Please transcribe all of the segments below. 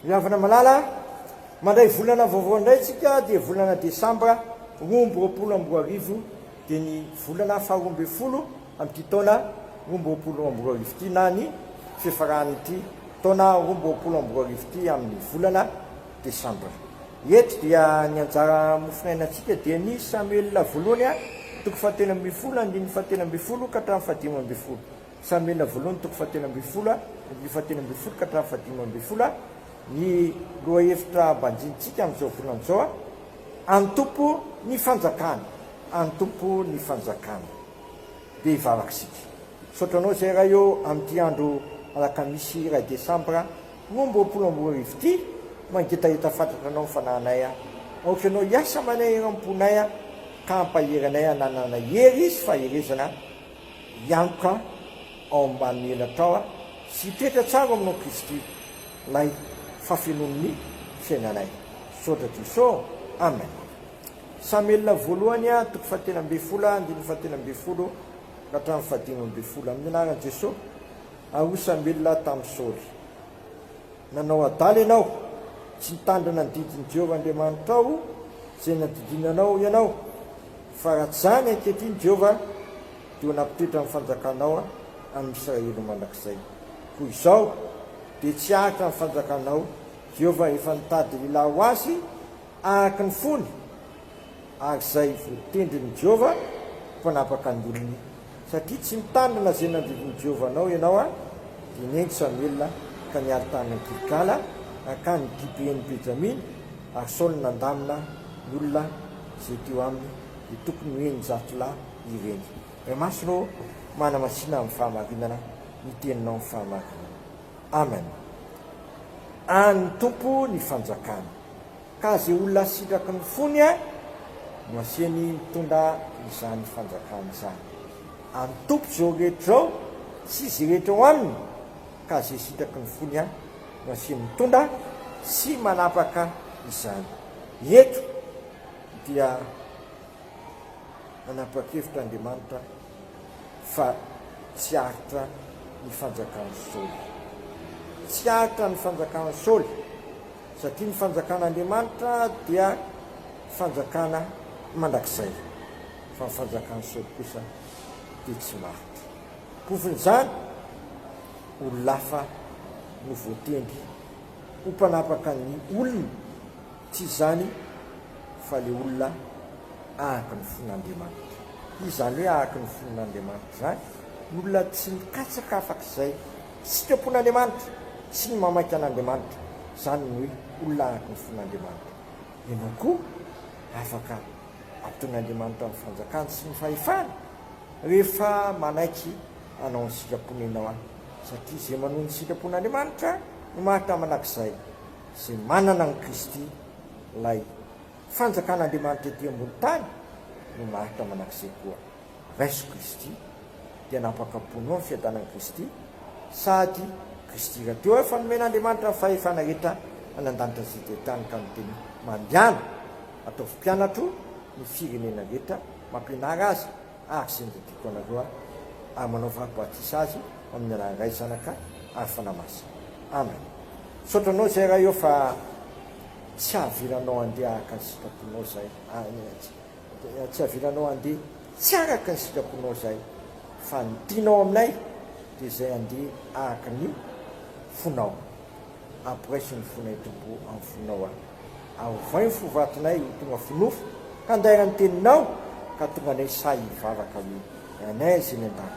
Ry havana malala a! Mandray volana vaovao indray isika dia volana desambra roa amby roapolo amby roa arivo dia ny volana faha roa ambin'ny folo amin'ity taona roa amby roapolo amby roa arivo ity na ny fifaran'ity taona roa amby roapolo amby roa arivo ity amin'ny volana desambra. Eto dia ny anjara mofonainantsika dia ny Samuel voalohany a! toko fahatelo ambin'ny folo, andininy fahatelo ambin'ny folo ka hatramin'ny fahadimy ambin'ny folo. Samina voalohany toko fahatelo ambin'ny folo andininy fahatelo ambin'ny folo ka hatramin'ny fahadimy ambin'ny folo ny lohahevitra banjinintsika amin'izao volana izao, Antompo ny fanjakana, antompo ny fanjakana. Dia hivavaka isika. Misaotra anao izay Ray ô amin'ity andro alakamisy iray desambra roa amby roapolo amby roa arivo ity, mangetaheta fatratra anao ny fanahinay, aoka ianao hiasa amanay eran'ny ponay ka hampahery anay hananana hery sy faherezana hiantoka ao ambanin'ny elatrao aho sy hitoetra tsara ao aminao Kristy lay fafenoan'ny fiainanay Misaotra Jeso Amen Samelina voalohany a toko fahatelo ambin'ny folo a andininy fahatelo ambin'ny folo ka hatramin'ny fahadimy ambin'ny folo Amin'ny anaran'i Jeso ary hoy Samelina tamin'i Saoly Nanao adala ianao tsy nitandrina ny didin'i Jehovah Andriamanitrao izay nandidiana anao ianao Fa raha tsy izany, ankehitriny, Jehovah, dia ho nampitoetra ny fanjakanao amin'i Israely ho mandrakizay. Koa izao, dia tsy hahatra ny fanjakanao, Jehovah efa nitady lehilahy ho azy araka ny fony, ary izay voatendrin'i Jehovah ho mpanapaka ny olony. Satria tsy mitandrina izay nandridin'i Jehovah anao ianao, dia nen'i Samoela ka niady tany Gilgala, nankany Gibeon'i Benjamina, ary Saoly nandamina ny olona. Ze teo aminy de tokony hoe ny zato lahy ireny. MH rô manamasina amin'ny fahamarinana ny teninao amin'ny fahamarinana. Amen. An'ny Tompo ny fanjakana. Ka ze olona sitraky ny fony a no asiany mitondra izany fanjakana izany. An'ny Tompo zao rehetra zao sy ze rehetra ao aminy ka ze sitaky ny fony ihany no asiany mitondra sy manapaka izany eto dia nanapakevitra Andriamanitra fa tsy aritra ny fanjakan'i Saoly tsy aritra ny fanjakan'i Saoly satria ny fanjakan'Andriamanitra dia fanjakana mandrakizay fa ny fanjakan'i Saoly kosa dia tsy maritra Kofonjany, olon-hafa no voatendry ho mpanapaka ny olona, tsy izany fa ilay olona ahaky ny fon'Andriamanitra. Izany hoe ahaky ny fon'Andriamanitra izany, ny olona tsy mikatsaka afak'izay sitrapon'Andriamanitra sy ny mamaky an'Andriamanitra, izany no hoe olona ahaky ny fon'Andriamanitra. Ianao koa afaka Ataon'Andriamanitra ny fanjakany sy ny fahefany rehefa manaiky hanao ny sitrapon'Ianao ahy, satria izay manohy ny sitrapon'Andriamanitra no maharitra manak'izay izay manana an'i Kristy, ilay fanjakan'Andriamanitra ety ambony tany no maharitra manak'izay koa. Raiso Kristy, dia nampakaponao ny fiadanan'i Kristy, sady Kristy rahateo ary fa nomen'Andriamanitra ny fahefana rehetra any an-danitra sy eto an-tany ka niteny, Mandehana, ataovy mpianatro ny firenena rehetra, mampianara azy ary izay nototoiko anareo aho, ary manaovy aho batisa azy amin'ny anaran'ny Ray, Zanaka ary Fanahy Masina. Amen. Misaotra anao izay Ray ô fa tsy hahavelanao handeha araka ny sitraponao izahay. Amen. Dia tsy havilanao handeha tsy araka ny sitraponao izay, fa ny tianao aminay dia izay handeha araka ny fonao. Amporaiso ny fonay Tompo amin'ny fonao aho, ary ovay ny fo vatonay ho tonga finofy handaira ny teninao ka tonga anay sahy hivavaka hoe, Ranay izay any an-danitra,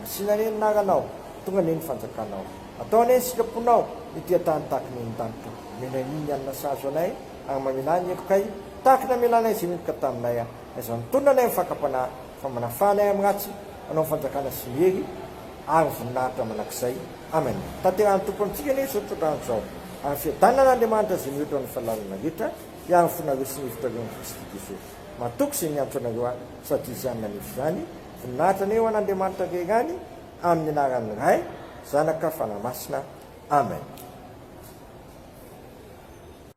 masina anie ny anaranao, tonga anie ny fanjakanao, atao anie ny sitraponao, ety an-tany tahaka ny any an-danitra, omenay ny hanina sahaza anay, Ary mamela ny heloka ahy tahaka ny namelanay izay niheloka taminay aho. Na izany mitonona anay amin'ny fakam-panahy, fa manafahana ahy amin'ny ratsy, manao ny fanjakana sy ny hery ary ny voninahitra mandrakizay. Amen. Tanterahin'ny Tompo amintsika anie izao tontolo andro izao, ary ny fiadanana an'Andriamanitra izay mihoatra ny fahalalana rehetra hiaro ny fonareo sy ny hevitrareo amin'i Kristy Jesosy. Matoky izay niantso anareo ahy, sady Izy ihany nanefy izany. Voninahitra anie ho an'Andriamanitra Ray ihany, amin'ny anaran'ny Ray, Zanaka, Fanahy Masina. Amen.